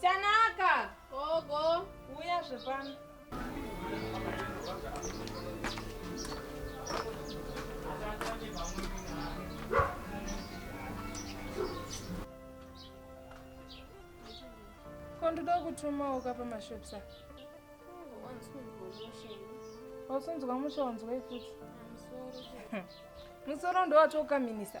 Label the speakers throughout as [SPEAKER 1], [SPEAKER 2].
[SPEAKER 1] Tanaka, gogo, uya zvepano. Ko ndoda kutumawo ka pamashops aka. Wasunzwa musha wanzwa ifuti. Musoro ndowatokaminisa.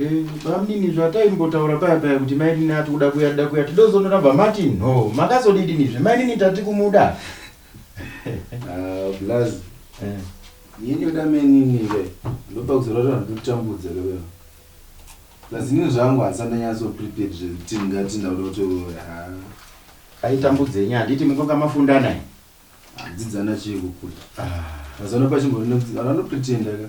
[SPEAKER 1] Eh, bamnini zvataimbotaura paya paya kuti mainini ati kuda kuya tida kuya tidozonora bamati no makazodidinizve mainini tati kumuda plus ah, eh. yini yoda mainini ke ndopa kuzorora ndotambudza kewe plus inini zvangu hasandanyatso prepared zvekuti ndingati ndauda kuti ah. aitambudzenyi handiti mukoka mafundana handidzana chii kukura ah. mazano pachimbo anopretenda ka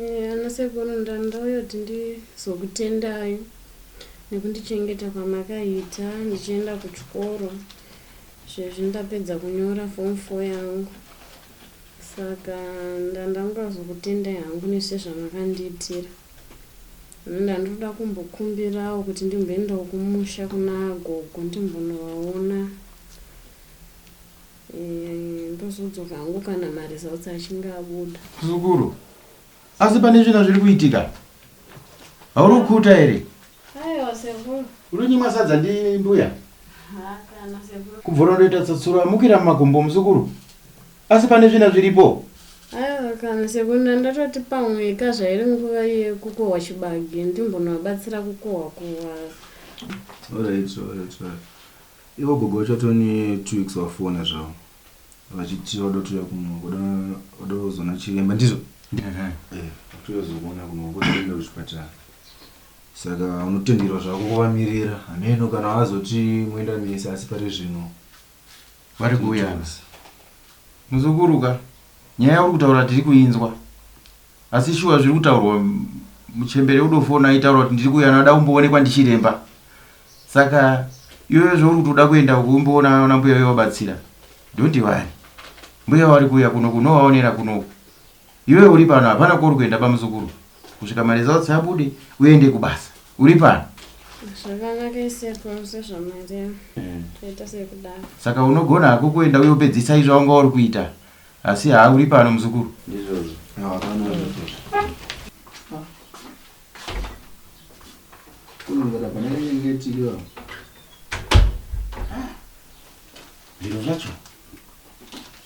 [SPEAKER 1] Eh, ana sekuru ndandauya kuti ndizokutendai nekundichengeta kwamakaita ndichienda kuchikoro sezvi ndapedza kunyora form four yangu saka ndandangazokutendai hangu nesezvamakandiitira ini ndandoda kumbokumbirawo kuti ndimboendawo kumusha kuna gogo ndimbonovaona ndozodzoka hangu kana maresults achinge abuda muzukuru asi pane zvina zviri kuitika hauri kukuta here aiwa sekuru uri nyimwa sadza ndi mbuya kubvora ndoita tsatsuro amukira mumakumbo muzukuru asi pane zvina zviripo aiwa kana sekuru ndandatoti pamwe ka zvairi nguva yekukohwa chibage ndimbonovabatsira kukohwa kohwa Alright, alright, alright. Ivo gogo vachatove ne two weeks vafona zvavo vachiti vada kutouya kuno vada vada kuzona chiremba ndizvo Eh, kutouya kuzokuona kuno votoenda kuchipatara saka unotenderwa zvako kuvamirira hameno kana vazoti moenda mese asi pari zvino Vari kuuya ana. Muzukuru ka nyaya yauri kutaura tiri kuinzwa asi shuwa zviri kutaurwa mm, muchembere udofona aitaura kuti ndiri kuuya ana ada kumboonekwa ndichiremba. Saka iwewe zvauri kuti uda kuenda uko umboona ona mbuya uye wabatsira. Don't worry. Mbuya vari kuuya kuno kunovaonera kuno. Iwewe uri pano hapana kwauri kuenda bamuzukuru. Kusvika maresults abude uende kubasa. Uri pano. Zvakanaka isekuru sezvamareva. Mm. Toita sekudaro. Saka unogona hako kuenda uye upedzisa izvo wanga uri kuita. Asi haa uri pano muzukuru. Ndizvozvo. Hapana. kunongera pane nyengetiro ah, zviro zvacho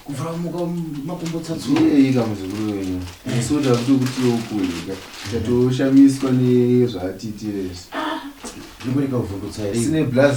[SPEAKER 1] kuvhura muka makumbo tsatsuika muzukuru wenyu asi kuti akuti kuti okudya tatoshamiswa nezvaatiitire izvi zvikureka kuvhundutsa here sine blas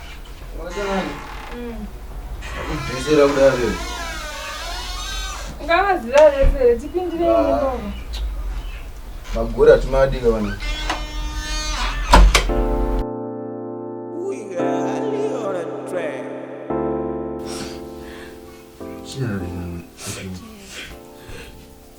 [SPEAKER 1] Ndisera kudare. Ngava zira rese tipindire imba. Magura timadika vanhu. Chinaringa.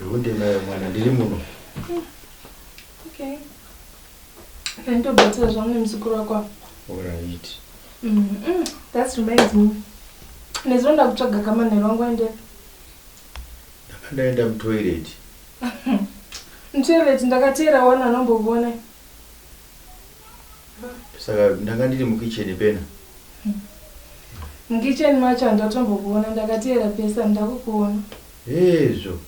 [SPEAKER 1] Rude nayo mwana ndiri muno. Hmm. Okay. Ndobata zvangu nemuzukuru wako. All right. Mm -mm. That reminds me. Nezvo ndakutsvaga kamanhero wangu aende. Ndakandaenda mutoilet. Mutoilet ndakateera wana anombokuona. Saka ndanga ndiri mukitchen pena. Mukitchen macho handatombokuona ndakateera pese handakukuona. Hezvo.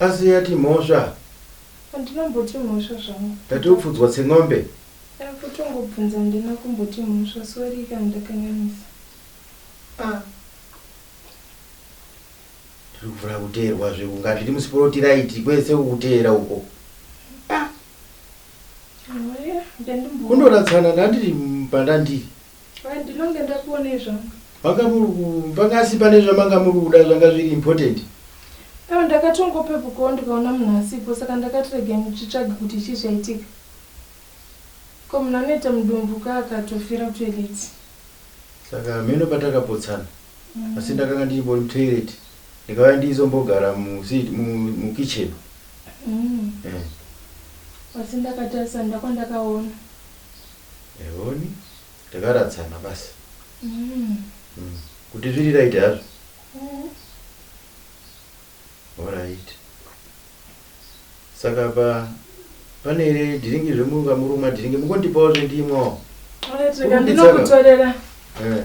[SPEAKER 1] Asi yati mhosva. Handinomboti mhosva zvangu. Ndati upfudzwa tsengombe. Eh, kutongobvunza handina kumboti mhosva sorry kana ndakanyanyisa. Ah. Tiri kufuna kuteerwa zve kunga tiri musporotiraiti kwese kuteera uko. Ah. Kundoratsana ndandiri pandandiri. Hai ndinonge ndakuonei zvangu. Vanga muri panga asi pane zvamanga muri kuda zvanga zviri important. Ewa ndakatongopepukawo ndikaona munhu asipo saka ndakati regai ndichitsvage kuti chii chaitika. Ko munhu anoita mudumbu ka akatofira kutoilet. Saka hameno patakapotsana asi ndakanga ndichimbori mutoilet ndikauya ndichizombogara mukitchen. Umm asi ndakatarisa nda kwandakaona. Ehoni takaradzana basi. Umm kuti zviri right hazvo. Horaiti. Saka apa pane here dhiringi zvemunga murumwa dhiringi mukondipawo zvendimwa. Horaiti rega ndinokutorera. Eh.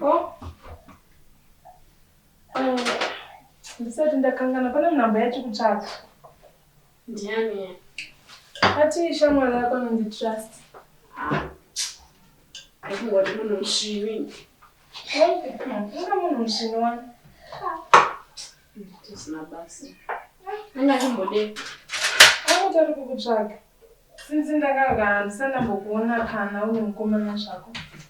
[SPEAKER 1] Oh. Um, ndisati ndakangana pane nhamba yati kutsvaga. Ndiani? Ati shamwari yako anonzi Trust. Ah. Aikungoti munhu musvini. Unga munhu musvini wani? Tisina basa. Anga chimbodei? Anoti ari kukutsvaga. Since ndakanga handisana mbokuona kana une mukomana zvako.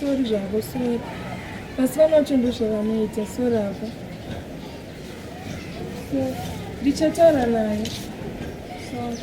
[SPEAKER 1] Sorry zvavo sorry asi vanacho ndozvavanoita sorry avo ndichataura naye sorry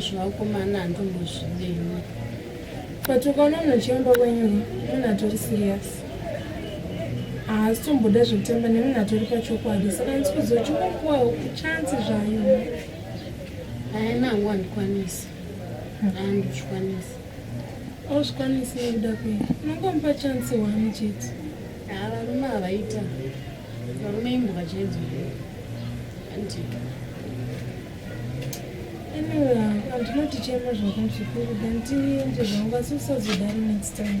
[SPEAKER 1] zvevakomana handimbozvidei but ukaona munhu achiomba kwenyu munhu atori serious haasi tomboda zvekutamba nemunhu atori pachokwadi saka ndisi kuziva chingopuwa chansi zvayo haina hangu handikwanisi handizvikwanisi auzvikwanisi nekuda kwei unongomupa chansi wani chete havarume havaita Varume imbuka chenzo here? Andika. Anyway, andinoti chema zvakati kuri dandiende zvangu asi usazodari next time.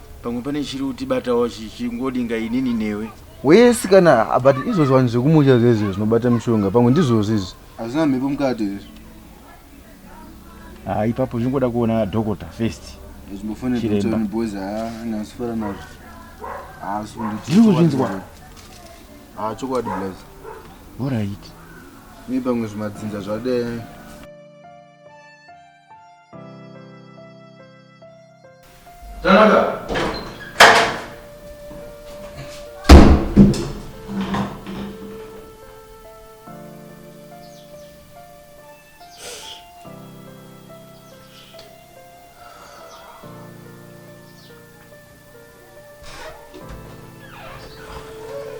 [SPEAKER 1] pamwe pane chiri kutibatawo chichingodinga inini newe wesi kana but izvozvo vanhu zvekumusha zvezvo zvinobata mushonga pamwe ndizvozvo izvi hazvina mhepo mukati here ha ah, ipapo zvingoda kuona dhokota first zvimbofoneaboys haanasifara nazvo ndiri kuzvinzwa ha ah, chokwadi blaz orit ne pamwe zvimadzinza zvadee Tanaka.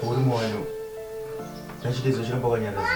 [SPEAKER 1] Uri mwoyo. Nachitezo chiramba kwanyaraza.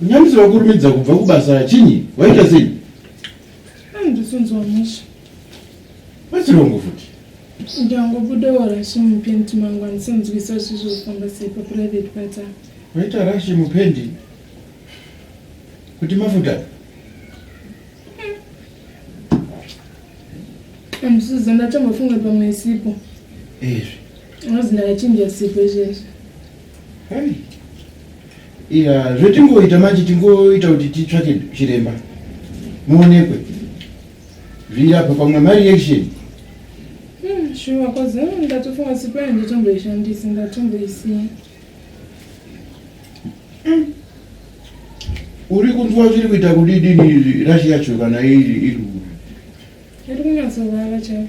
[SPEAKER 1] Munyamisi vakurumidza kubva kubasa chinyi? Waita sei? Ndisonzwa musha. Vachirongo futi. Ndangobuda warashi mupendi mangu andisinzwisa zvizvo kufamba sei paprivate pata. Waita rashi mupendi? Kuti mafuta? Andisiza ndatombofunga pamwe isipo. Ezvi. Unozindakachinja sipo izvezvi. Hey. Yeah, zvetingoita manje tingoita kuti titsvake chiremba muonekwe zviri apa pamwe mareaction hmm, shuwa kozi hmm, ndatofunga sipo yangu totomboishandisi ndatomboisiya hmm. uri kunzwa zviri kuita kudidini rashi yacho kana iri iri uri iri kunyatsovava chai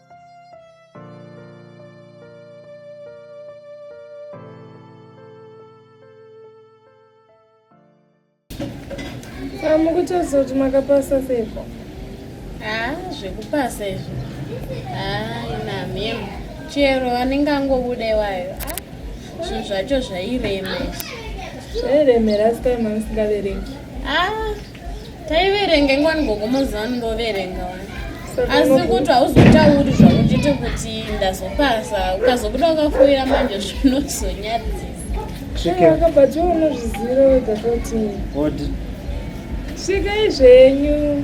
[SPEAKER 1] amukutaridza kuti makapasa seiko haa zvekupasa izvo haa inamim chero anenge angobuda iwayo zvinhu zvacho zvairema izvi zvairemera asi kai mamisingavereki haa taiverenga ingwani gogo mozivani ndoverenga wani asi kuti hauzotauri zvakuchiti kuti ndazopasa ukazobuda wakafoira manje zvinozonyadzisasvikai zvenyu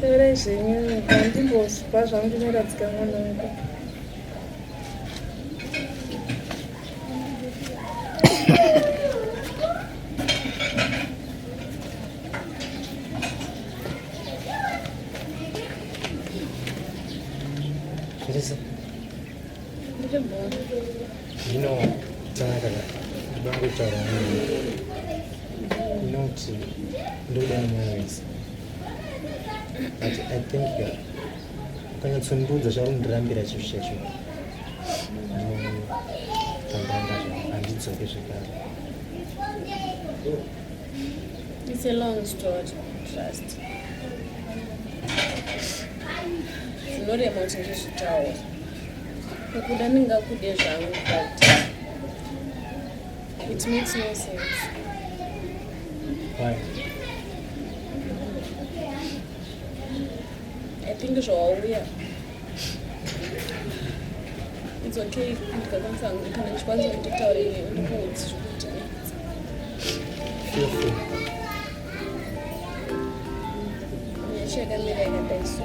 [SPEAKER 1] Taurai zvenyu nyika ndimbozvipa zvangu ndinoradzika mwana wangu. Teresa. Zvino tanaka ndoda kutaura nemi not ndoda nemwoyo wese but i think ukanyatsondiudza chaundirambira chinhu chacho ndotambanga handidzoke zvekare It's a long story, trust. Zvinorema kuti ndizvitaure. Kukuda ndingakude zvangu but it makes no sense. Why? I think zvawauya it's okay ndikakwanisa kana ndikwanisa kutitaura iwe ndikuudzi zvekuti nyasha yakamira yakadai so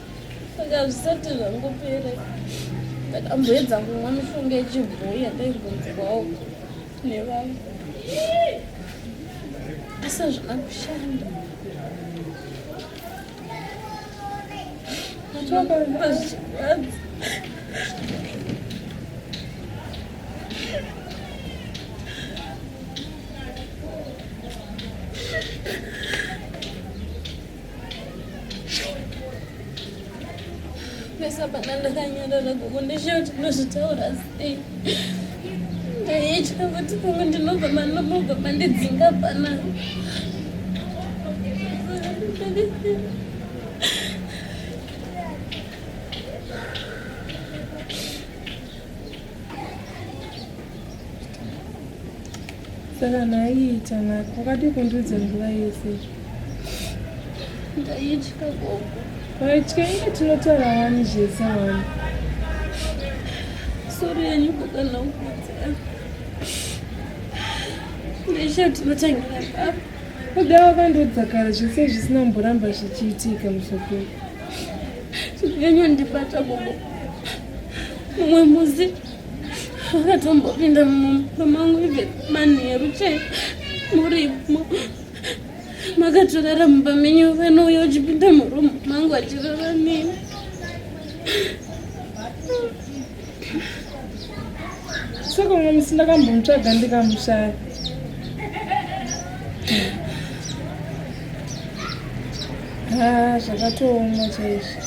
[SPEAKER 1] ndakazvisati zvangopere ndakamboedza kumwa mishonga yechibhoyi yandaimbonzwawo nevanhu asi hazvina kushanda zvakamba zvichirwadza Pesa pana ndakanyarara gogo ndishaye kuti ndozvitaura sei. Ndaiitya kuti pamwe ndinobva manobva mandidzinga pana. saka naiita nako wakadi kundiudza nguva yese ndaitya gogo waitya inge tinotaura wani zvese wani sori yenyu kukana ukudza ndeshe tinotangira papa kuda wakandiudza kare zvese zvisina mboramba zvichiitika musokuru zvinyanyondibata gogo mumwe musi akatombopinda mumba mangu ive manheru che murimo makatorara mumba menyu vanouya uchipinda murumu mangu achirara nini saka umwe musi ndakambomutsvaga ndikamushaya ha ah, zvakatooma chaizvo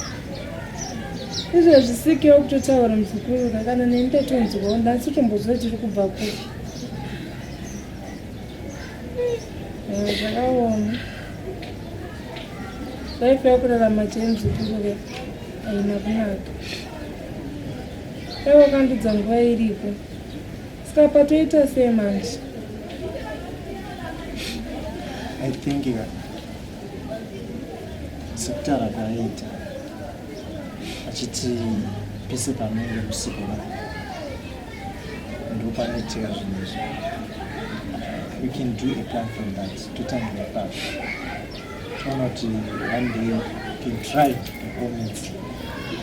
[SPEAKER 1] izvo zvisikewo kutotaura muzukuru kakana neni tatonzwawo ndasi tombozwa tiri kubva kupi zvakaoma life yakurarama chei muzukuru ka haina kunaka aiwa kandudza nguva iripo saka patoita sei manje i think yeah. sekutara kwaaita achiti pese panenge usiku ndopanoitika zvinhu izvi we can do a plan from that totangira papi toona kuti one day can try to comment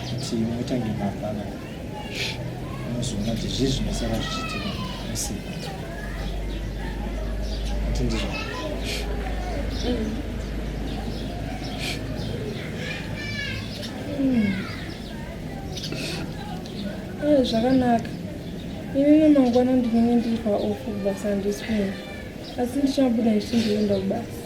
[SPEAKER 1] kuti motange mapana unozoona kuti zvii zvinosara zvichiitika musika kuti ndizvo hmm. eh, zvakanaka ini nemangwana ndinenge ndiri paofu kubasa handisi kuno asi ndichabuda ndichindienda kubasa